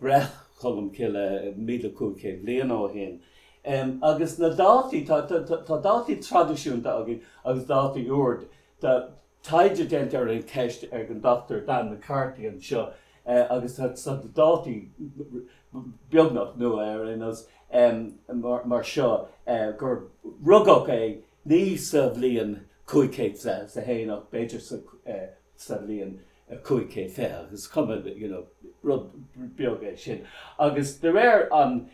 Breith Cholm Cille míle cúig chéad bliain ó shin. Agus na dátaí, tá dátaí traidisiúnta againn agus dátaí úr. Tá taighde déanta ar an cheist ag an Dr Dan McCarthy anseo agus tá dátaí beagnach nua ar aon nós, mar seo, gur rugadh é ní sa bhliain 500 is a haon ach b'fhéidir sa bhliain 5 céad fiche agus is cuma you know rud beag é sin agus de réir an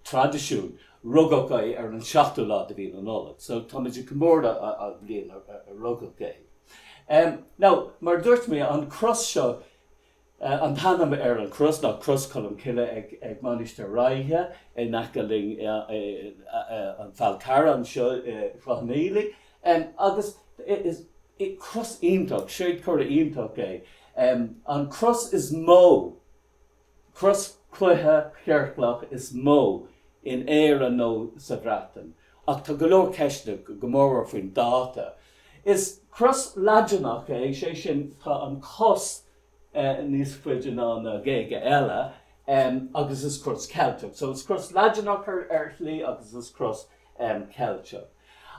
traidisiúin rugadh é ar an 7ú lá de mhí na Nollag so táimid ag comóradh an bhliain a rugadh é. Now mar a dúirt mé an cros seo An t-ainm ar an chros ná Cros Cholm Cille ag Mainistir Ráithe in aice leis an Fhál Carrach anseo i gCloich Cheann Fhaola agus is cros iontach, séadchomhartha iontach é. An cros is mó, cros chloiche chiorclach is mó in Éirinn nó sa Bhreatain. Ach tá go leor ceisteanna go mórmhór faoin dáta Is cros Laidineach é, sé sin tá an cos níos faide ná na géaga eile agus is cros Ceilteach. So is cros Laidineach ar shlí agus is cros Ceilteach.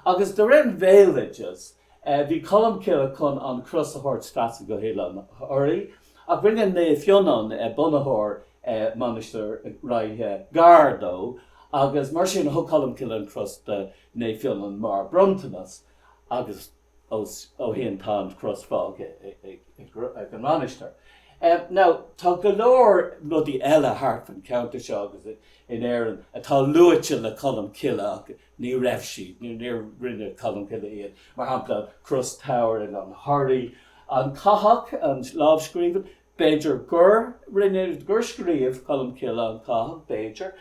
Agus de réir an bhéaloidis bhí Colmcille chun an cros a thabhairt trasna go hOileán Thoraí ach rinne Naomh Fionnán, bunaitheoir Mainistir Ráithe, gar dó agus mar sin thug Colmcille an cros do Naomh Fionnán mar bhronntanas agus ó shin tá an chros fágtha ag an mhainistir. Now tá go leor rudaí eile thart fan cheantar seo agus in Éirinn atá luaite le Colm Cille ach ní raibh siad, níor rinne Colm Cille iad, mar shampla Cros Tau ar Oileán Thoraí, An Cathach, an lámhscríbhinn, B'fhéidir gur rinne, gur scríobh Colmcille An Cathach, b'fhéidir,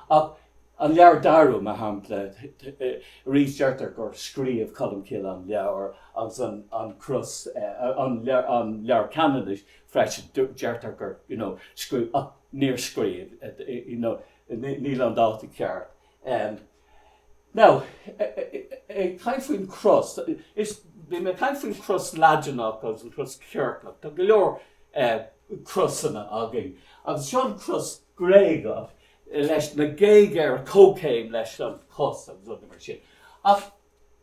ach an Leabhar Darú, mar shampla, arís deirtear gur scríobh Colmcille an leabhar agus an cros, an Leabhar Ceanannais freisin, deirtear gur, you know, scríobh, ach níor scríobh, you know, níl an dáta ceart. Now, ag caint faoin chros, is, bhí mé ag caint faoin chros Laidineach agus an chros chiorclach, tá go leor crosanna againn, agus seo an chros Ghréagach leis na géaga ar comhchéim leis an chos agus rudaí mar sin. Ach.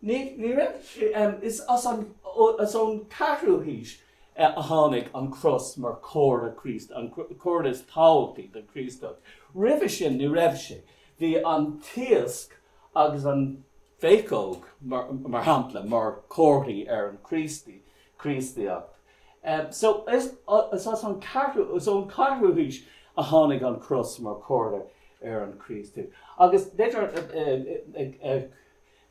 Ní raibh. Is ón 4ú haois a tháinig an chros mar chomhartha Críostaí, an comhartha is tábhachtaí don Chríostaíocht. Roimhe sin ní raibh sé. Bhí an t-iasc agus an phéacóg, mar shampla, mar chomharthaí ar an Chríostaíocht. So, is as an 4ú haois a tháinig an chros mar chomhartha ar an Chríostaíocht. Agus b'fhéidir.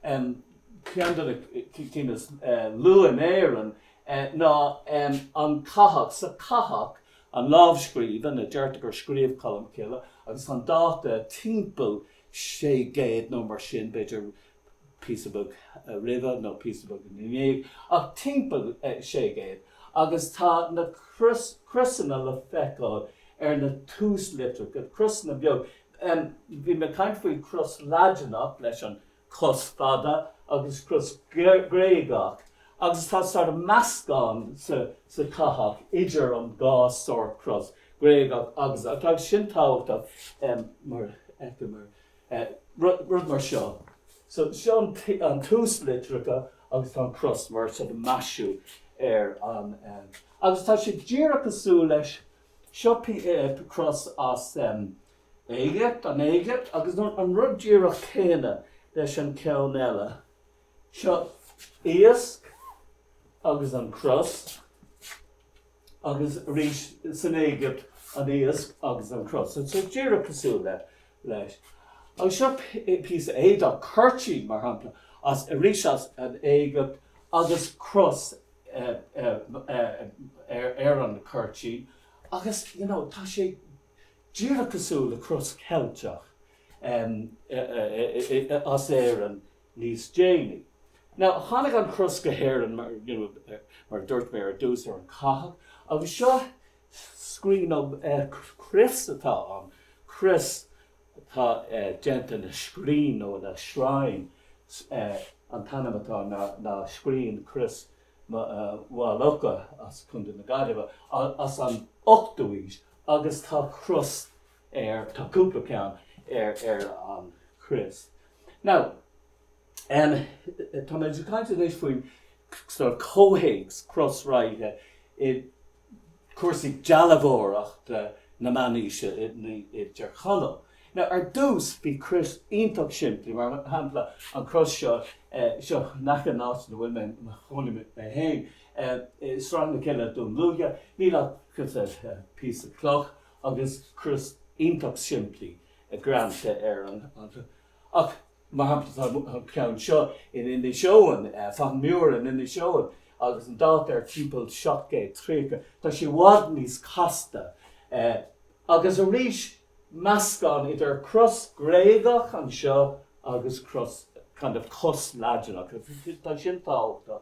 Ceann de na cinn is luaithe in Éirinn ná An Cathach. Sa Cathach, an lámhscríbhinn a deirtear gur scríobh Colm Cille, agus tá an dáta timpeall 600 nó mar sin, b'fhéidir píosa beag roimhe nó píosa beag ina dhiaidh, ach timpeall 600, agus tá na crosanna le feiceáil ar na túslitreacha, crosanna beaga, Bhí mé ag caint faoin chros Laidineach leis an chos fada agus cros Ghréagach agus tá sort of meascán sa Chathach idir an dhá sort cros, Gréagach agus. Tá sin tábhachtach mar rud mar seo, so seo an túslitreacha agus tá an chros mar sort of maisiú ar an. Agus tá sé díreach cosúil leis Seo cros as an Éigipt, an Éigipt, agus an rud díreach céanna leis an ceann eile. Seo iasc agus an cros, agus arís san Éigipt, an iasc agus an cros. So díreach cosúil le. leis. Agus seo píosa éadach cuirtín, mar shampla, as arís as an Éigipt agus cros ar an cuirtín agus, you know, tá sé díreach cosúil le cros Cheilteach as Éirinn níos déanaí. Now, tháinig an chros go hÉirinn, mar a dúirt mé ar dtús, ar an chathach agus seo scrín nó crios atá ann, crios atá déanta ina scrín nó ina shrine, an t-ainm atá ann ná Scrín Chrios Mhaigh Locha as Contae na Gaillimhe as an ochtú haois agus tá cros air, tá cúpla ceann ar an chrios. Now, tá mé ag caint anois faoin sort of comhthéacs Cros Ráithe i. cúrsaí dealbhóireachta na Meánaoise i dTir Chonaill. Now, ar dtús, bhí crois iontach simplí, mar shampla, an cros seo, seo in aice an áit ina bhfuil mé, ina gcónaím mé féin, i Srath na Cille, Dún Lúiche, níl ach cos píosa cloch agus cros iontach simplí greanta ar an, ach, Mar shampla, tá an ceann seo in Inis Eoghain, Fathain Mura in Inis Eoghain, agus an dáta air timpeall 730. Tá sé i bhfad níos casta. Agus arís, meascán idir cros Gréagach anseo agus cros, kind of, cros Laidineach. Tá sin tábhachtach.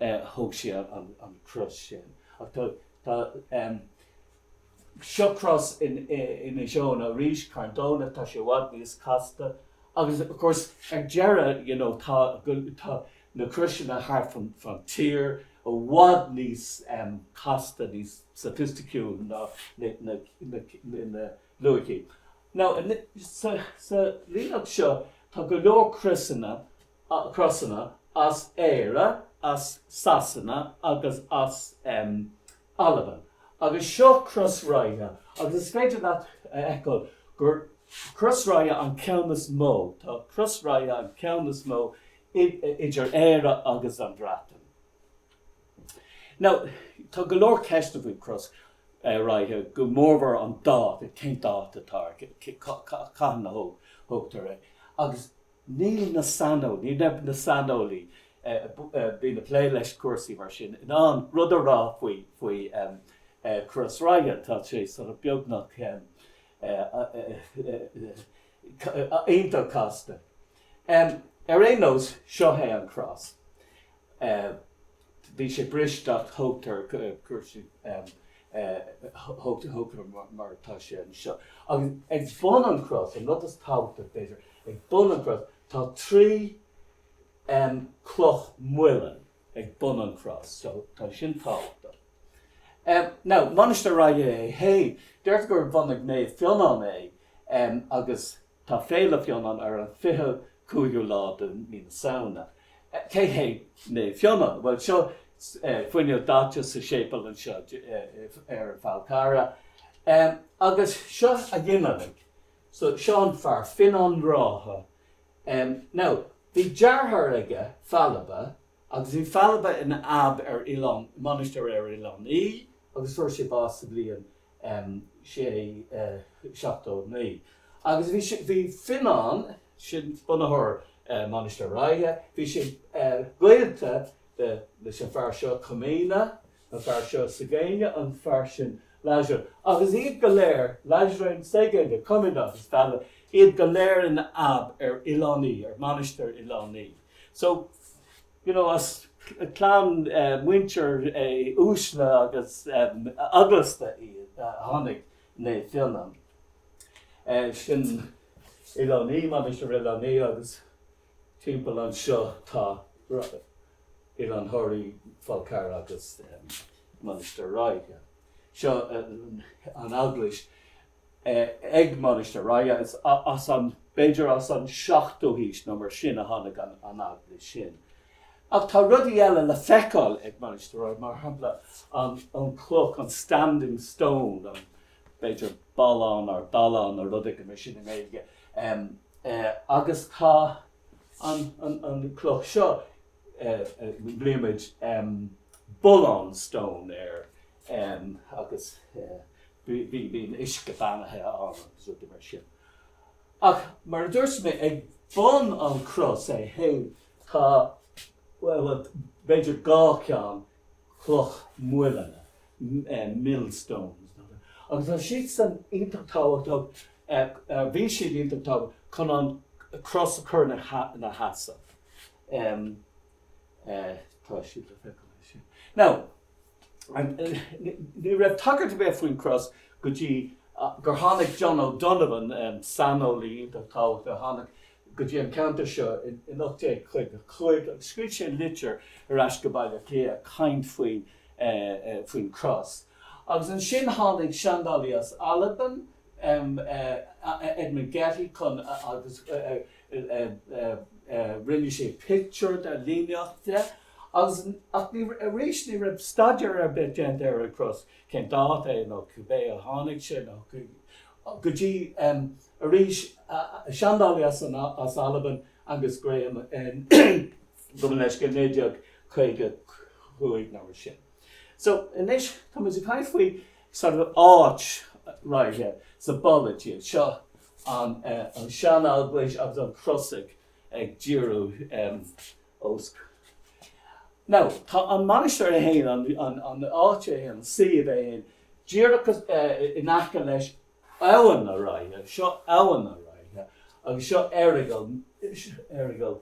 ar thóg sé an chros sin. Ach tá tá em seo cros in in Inis Eoghain arís Carn Domhnach tá sé i bhfad níos casta agus of course ar deireadh you know tá go tá na croiseanna thart fán fán tír i bhfad níos em casta níos sophisticiúil ná na na na na na luaithe. Now anois sa sa líníocht seo tá go leor croiseanna crosanna as Éire, as Sasana agus as Albain agus seo Cros Ráithe agus is féidir leat a fheiceáil gur Cros Ráithe an ceann is mó, tá Cros Ráithe an ceann is mó idir Éire agus an Bhreatain. Now tá go leor ceisteanna faoi Chros Ráithe, go mórmhór an dáta, cén dáta atá air, cathain a thógtar é agus. Níl na saineolaí, ní raibh na saineolaí a bhí ag plé leis cúrsaí mar sin in ann rud a rá faoi faoi Cros Ráithe. Tá sé sort of beagnach iontach casta. Ar aon nós, seo é an cros. bhí sé briste ach thógtar cúrsaí, thógtar mar atá sé anseo. Agus ag bun an chros, an rud is tábhachtaí b'fhéidir, ag bun an chros, tá trí chloch mhuileann ag bun an chros, so tá sin tábhachtach. Now, Mainistir Ráithe é féin, deirtear gur bhunaigh Naomh Fionán é agus Tá Féile Fionán ar an 25ú lá de mí na Samhna. Cé hé Naomh Fionán? Bhuel, seo fuinneog dhaite sa séipéal anseo ar an Fál Carrach. Agus seo a ghinealaigh, so seo an fear Fionán Rátha. Now, bhí deartháir aige, Failbe, agus bhí Failbe ina abb ar oileán, mainistir ar Oileán Í, agus fuair sé bás sa bhliain 679 agus bhí sé, bhí Fionán, sin bunaitheoir Mhainistir Ráithe, bhí sé gaolta leis an fear seo Cuimíne, an fear seo Ségéne, an fear sin Laisre agus iad go léir, Laisrén, Ségéne, Cuimíne agus Failbe, iad go léir ina ab ar Oileán Í, ar Mhainistir Oileán Í. So. you know as clann muintir uaisle agus eaglasta iad a tháinig Naomh Fionán sin Oileán Í, Mainistir Oileán Í agus timpeall anseo tá Oileán Thoraí, Fál Carragh agus Mainistir Ráithe. Seo an eaglais ag Mainistir Ragha, is as an, b'fhéidir as an seachtú haois nó mar sin a tháinig an eaglais sin. Ach tá rudaí eile le feiceáil ag Mainistir Ragha, mar shampla an an chloch, an standing stone, an, b'fhéidir, ballán nó dallán nó rud éigin mar sin i nGaeilge, agus tá an an chloch seo, glaoimid, Bullán Stone air agus bíonn uisce beannaithe ann agus rudaí mar sin. Ach mar a dúirt mé, ag bun an chros é féin tá, bhuel, b'fhéidir dhá cheann cloch mhuilinne, millstones, agus tá siad san iontach tábhachtach, bhí siad iontach tábhachtach chun an chros a chur ina sheasamh. Tá siad le feiceáil ansin. Now. Ní raibh tagairt ar bith faoin gCros go dtí gur tháinig John O'Donovan, saineolaí iontach tábhachtach a tháinig go dtí an ceantar seo in 1855 agus scríobh sé litir ar ais go Baile Átha Cliath ag caint faoin gCros. Agus ansin tháinig seandálaí as Albain, Edmund Getty, chun, agus rinne sé pictiúr de, líníocht de. Agus, ach ní, arís, ní raibh staidéar ar bith déanta ar an gcros, cén dáta é nó cibé a tháinig sé, go dtí, arís, seandálaí as an, as Albain, Angus Graham, in, gabh mo leithscéal, 1955 nó mar sin. So, anois, tá muid ag caint faoi sort of áit Ráithe sa bpolaitíocht, seo an, an sean-eaglais agus an chros ag, ag díriú. suas. Now, tá an mhainistir é féin, an an áit é féin, an suíomh é féin, díreach in aice leis, Abhainn na Ráithe, seo Abhainn na Ráithe agus seo Errigal, Errigal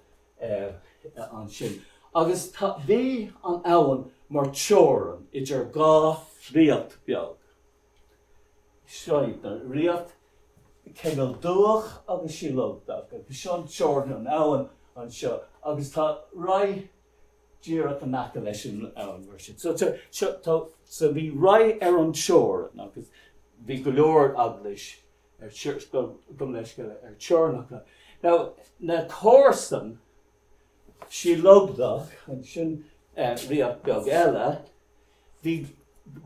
ansin agus tá, bhí an abhainn mar teorainn idir dhá ríocht bheag. Seo iad na ríocht Cineál Duach agus Síol Lugdach agus seo an teorainn an abhann anseo agus tá Ráith díreach in aice leis an abhainn mar sin. So seo tá so bhí Ráith ar an teorainn agus bhí go leor eaglais gabh mo leithscéal ar teorainneacha. Now na comharsain Síol Lugdach ansin ríocht beag eile Bhí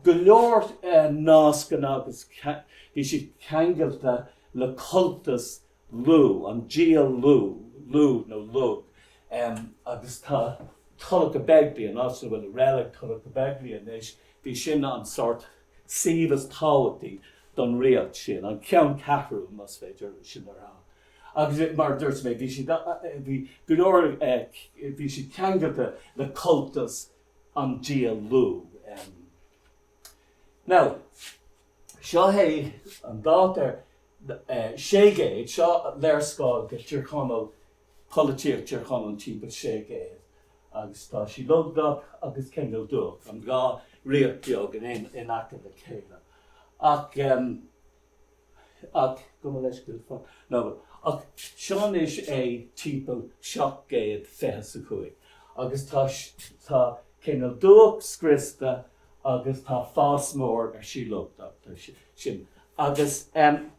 go leor nascanna agus bhí siad ceangailte le cultas Lugh, an dia Lugh, Lugh nó Lug, agus tá Tulacha Beigile, an áit ina bhfuil reilig Tulacha Beigile anois, bhí sin an sórt suíomh is tábhachtaí don ríocht sin, an ceanncheathrú, más féidir sin a rá. Agus mar a dúirt mé, bhí siad, bhí go leor, bhí siad ceangailte le cultas an dia Lugh. Now, seo é an dáta ar sé gcéad, seo léarscáil de Thír Chonaill, polaitíocht Thír Chonaill timpeall sé gcéad agus tá Síol Lugdach agus Cineál Duach, an dhá ríocht bheag in aice le chéile ach. Ach gabh mo leithscéal fan nóiméad. Ach seo anois é timpeall seacht gcéad fiche 's a cúig agus tá tá Cineál Duach scriosta agus tá fás mór ar Síol Lugdach ansin. Agus em.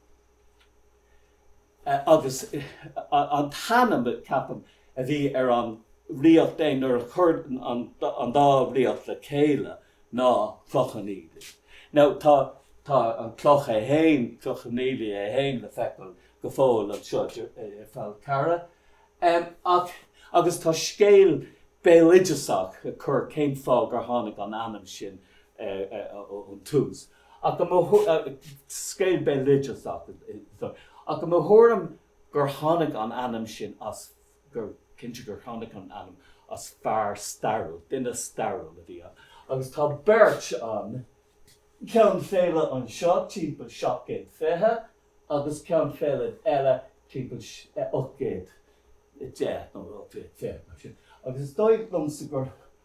agus an t-ainm, ceapaim, a bhí ar an ríocht é nuair a chuir an dá ríocht le chéile ná Cloch Cheann Fhaola. Now tá an cloch é fhéin, Cloch Cheann Fhaola é fhéin, le feiceáil go fóill anseo i Fál Carrach, agus tá scéal béaloideasach ag cur cén fáth gur tháinig an ainm sin ón tús. Ach i mo scéal béaloidis ach i mo thuairim gur tháinig an ainm sin as gur cinnte gur tháinig an ainm as fear stairiúil, duine stairiúil a bhí ann agus tá beirt ann, Ceann Faolaidh anseo timpeall seacht gcéad fiche agus Ceann Faolaidh eile timpeall ocht gcéad deich nó ocht gcéad fiche mar sin agus is dóigh liomsa gur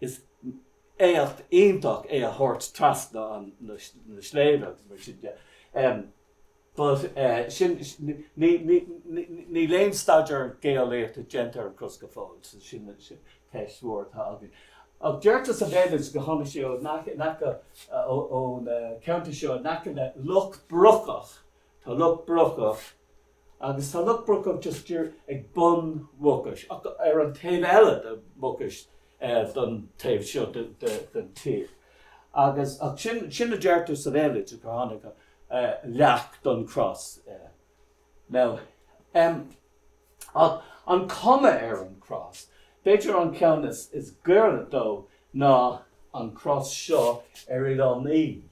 Is éacht iontach é a thabhairt trasna na sléibhe agus mar sin de but sin, níl aon staidéar geolaíochta déanta ar an gcros go fóill so sin ceist mhór atá againn. Ach deirtear sa bhéaloideas go dtáinig sé in aice, ón cheantar seo in aice le Loch Brocach, tá Loch Brocach, Agus tá Loch Brocach just díreach ag bun Mhucais, ar an taobh eile de Mhucais don taobh seo den tír. Agus ach sin a deirtear sa bhéaloideas, gur tháinig leac don chros. Now, an cuma ar an chros, b'fhéidir an ceann is gaire dó ná an chros seo ar Oileán Í.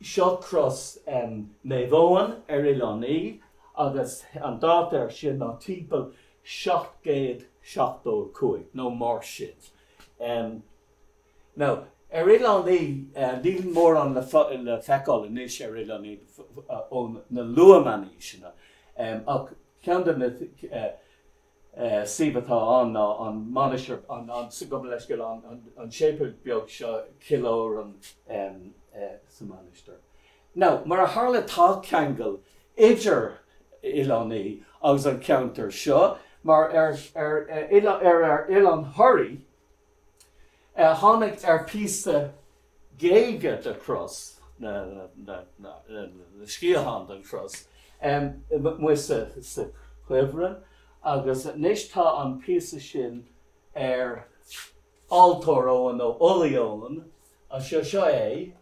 Seo cros Naomh Eoin ar Oileán Í agus an dáta ar sin ná timpeall 775 nó mar sin. Now ar Oileán Í níl mórán le feiceáil anois ar Oileán Í ó na luath-meánaoiseanna ach ceann de na suíomh atá ann ná an Mainistir, sa, gabh mo leithscéal, an séipéal beag seo, Cill Odhráin, sa Mainistir. Now, mar a tharla tá ceangal idir Oileán Í agus an ceantar seo, mar ar Oileán Thoraí, tháinig ar phíosa géige de chros nó sciathán den chros amuigh sa chuibhreann agus anois tá an píosa sin ar altóir Eoin, nó Ulaidh Eoin, anseo. Seo é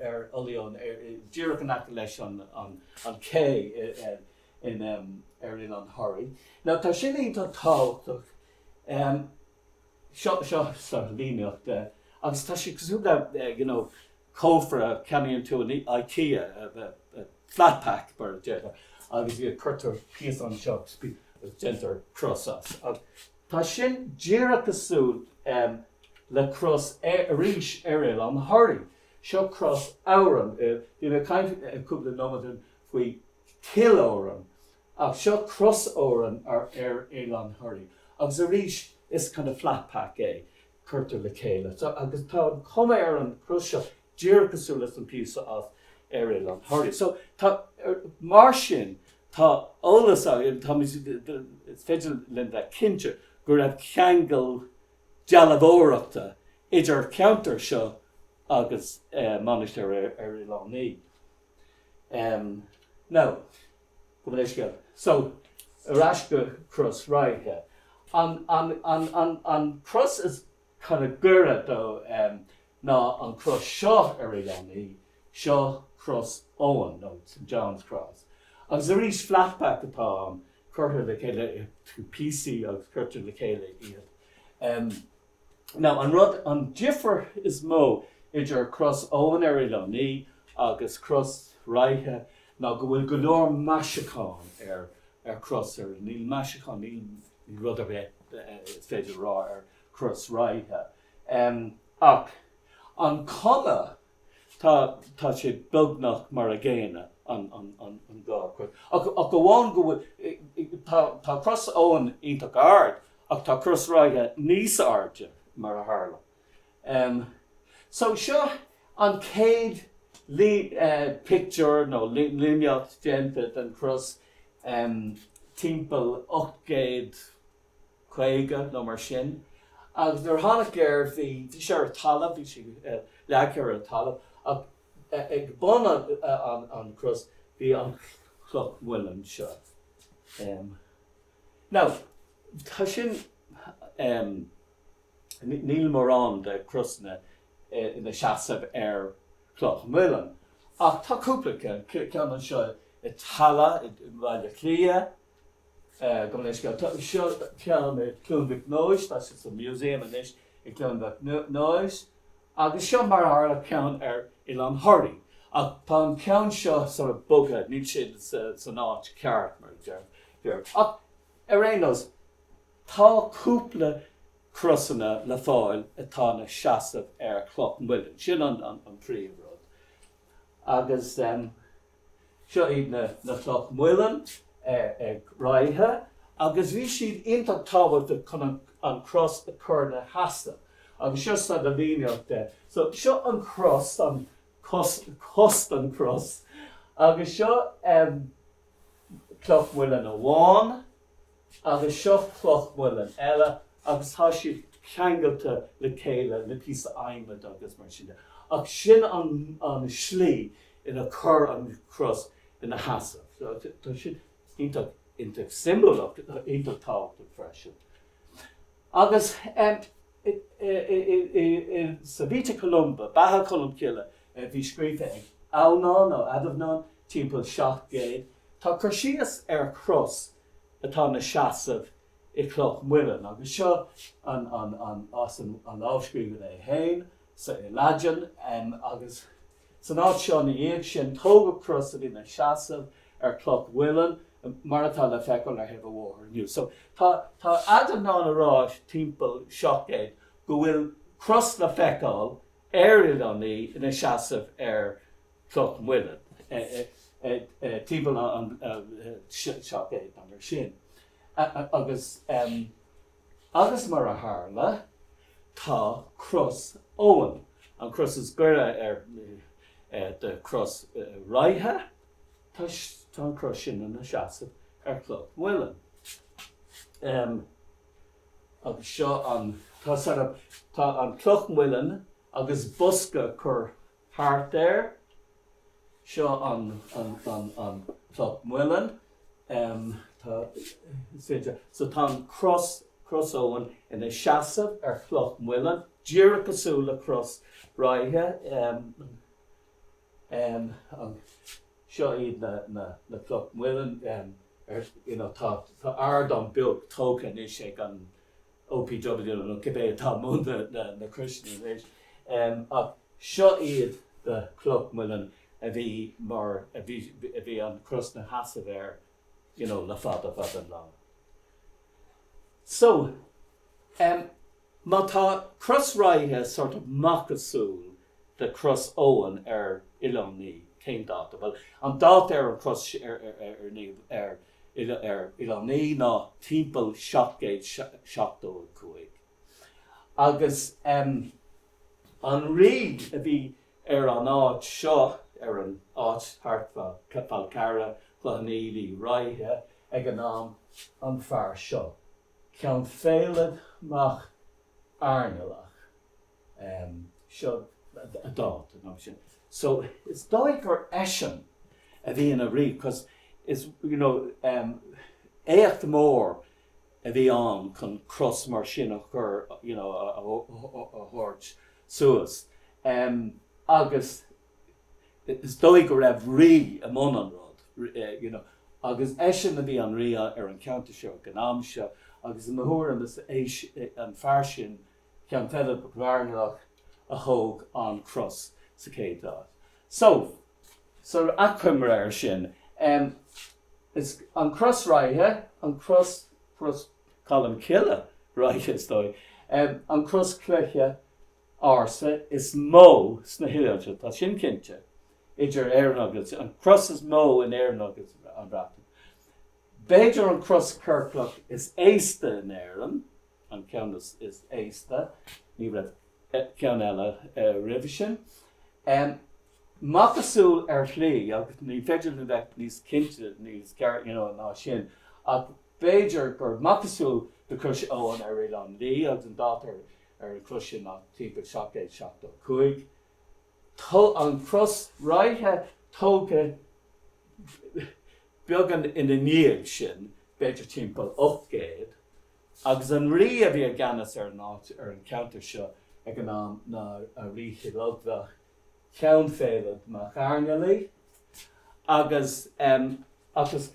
ar Ulaidh Eoin, díreach in aice leis an ché ar Oileán Thoraí. Now tá sin iontach tábhachtach. seo sa líníocht agus tá sé cosúil le you know cófra a cheannaíonn tú in Ikea flat pack mar a déarfá agus cuirtear píosa anseo agus déantar cros as agus tá sin díreach cosúil le cros arís ar Oileán Thoraí. Seo cros Odhráin, bhí mé ag caint cúpla nóiméad faoi Chill Odhráin Ach seo cros Odhráin ar ar Oileán Thoraí agus arís is kind of flat pack é, cuirtear le chéile. So agus tá an cuma ar an chros seo díreach cosúil leis an píosa as ar Oileán Thoraí. So tá er mar sin tá eolas againn táimid is féidir linn bheith cinnte go raibh ceangal dealbhóireachta idir cheantar seo agus eh Mainistir ar Oileán Í. Em now. Gabh mo leithscéal. So, ar ais go Cros Ráithe. An, an, an, an, an chros is kind of gaire dó ná an chros seo ar Oileán Í, seo Cros Eoin, nó St John's Cross. Agus arís flat pack atá ann, cuirtear le chéile, tá píosaí agus cuirtear le chéile iad. Now, an rud, an difear is mó idir cros Eoin ar Oileán Í agus cros Ráithe ná go bhfuil go leor maisiúcháin ar ar Crois Eoin. Níl maisiúcháin, níl rud ar bith is féidir a rá ar cros Ráithe. Ach an cuma atá sé beagnach mar an gcéanna an dá cros, ach amháin go bhfuil, tá cros Eoin iontach ard ach tá cros Ráithe níos airde mar a tharla. So seo an chéad pictiúr nó líníocht déanta den cros timpeall 800. 50 nó mar sin agus nuair a tháinig air bhí, bhí sé ar an talamh, bhí sé leagtha ar an talamh ach ag bun an cros bhí an cloch muilinn seo. Now tá sin, níl mórán de chrosanna ina seasamh ar chloch mhuilinn ach tá cúpla ceann, ceann seo i dTamhlacht i mBaile Átha Cliath, go minic. Seo ceann i gCluain Mhic Nóis, tá sé sa Museum anois i gCluain Mhic Nóis, agus seo mar a tharla ceann ar Oileán Thoraí, ach tá an ceann seo sort of bogtha, níl sé san áit cheart, mar a déarfá. Ach ar aon nós, tá cúpla crosanna le fáil atá ina seasamh ar chloch mhuilinn, sin an príomhrud, agus. Seo iad na na cloch muilinn ag Ráithe agus bhí siad iontach tábhachtach chun an an cros a chur ina sheasamh agus seo sort of líníocht de. So seo an cros an cos cos an cros agus seo ehm cloch muilinn amháin. agus seo cloch mhuilinn eile agus tá siad ceangailte le chéile le píosa adhmaid agus mar sin de. Ach sin an an slí inar cuireadh an cros ina sheasamh. So tá sin iontach iontach siombalach ach iontach tábhachtach freisin. Agus em. Sa Vita Columbae, Beatha Colmcille, a bhí scríofa ag Adhamhnán nó Adhamhnán timpeall 700, tá cur síos ar cros atá ina seasamh i gcloch muilinn, agus seo as an lámhscríbhinn é féin, so i Laidin, agus. San áit seo ina dhiaidh sin tógadh cros a bhí ina seasamh ar cloch muilinn, mar atá le feiceáil ar thaobh an bhóthair inniu. So tá Adhamhnán ag rá timpeall 700 go bhfuil cros le feiceáil ar Oileán Í ina seasamh ar cloch muilinn timpeall an 700 nó mar sin agus, agus mar a tharla, tá Cros Eoin, an cros is gaire do Chros Ráithe, tá an cros sin ina seasamh ar Chloch Mhuilinn. Agus seo an, tá, tá an Cloch Mhuilinn agus bosca cur thart air. Seo an Cloch Muileann. So tá an Cros, Cros Eoin, ina seasamh ar Chloch Muileann, díreach cosúil le Cros Ráithe. Seo iad na Cloch Muileann. Tá ardán beag tógtha anois ag an OPW nó cibé atá i mbun na croise anois, ach seo iad do Chloch Mhuilinn a bhí mar a bhí an chros 'na sheasamh air you know le fada fada an lá. So, má tá Cros Ráithe sort of macasamhail de Chros Eoin ar Oileán Í cén dáta? Bhuel, an dáta ar an chros ar Oileán Í ná timpeall 775 agus an rí a bhí ar an áit seo, ar an áit thart fá Falcarragh, Cloughaneely, Ráithe, ag an am, an fear seo, Ceann Faelad Mac Airnealach, seo a dháta. So is dóigh gur eisean a bhí ina rí because is, you know, éacht mór a bhí ann chun cros mar sin a chur, you know, a thabhairt suas. Agus is dóigh go raibh rí i mbun an rud, you know, agus eisean a bhí an rí ar an cheantar seo ag an am seo agus i mo thuairim is é an fear sin Ceann Faelad Mac Airnealach a thóg an chros sa chéad áit. So, achoimre air sin, is an Chros Ráithe, an chros, chros Cholm Cille Ráithe is dóigh, an chros chloiche ársa is mó sna hoileáin, tá sin cinnte, idir Éirinn agus, an chros is mó in Éirinn agus an Bhreatain. B'fhéidir an chros ciorclach is aosta in Éirinn. an ceann is aosta, ní raibh ceann eile roimhe sin. Macasamhail ar shlí, agus ní féidir linn bheith níos cinnte níos you know ná sin, ach b'fhéidir gur macasamhail de Chrois Eoin ar Oileán Í, agus an dáta ar an chrois sin ná timpeall 775. Tá an Chros Ráithe tógtha beagán ina ndiaidh sin, b'fhéidir timpeall 800. agus an rí a bhí i gceannas ar an áit, ar an cheantar seo ag an am ná Rí Shíl Lughdach, Ceann Faelad mac Airnealaigh, agus, ach is,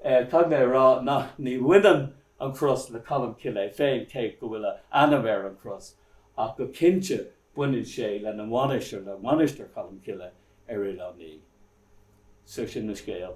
caithfidh mé a rá nach, ní bhaineann an chros le Colm Cille féin, cé go bhfuil a ainm ar an chros, ach go cinnte baineann sé lena mhainistir, le Mainistir Cholm Cille ar Oileán Í. So sin an scéal.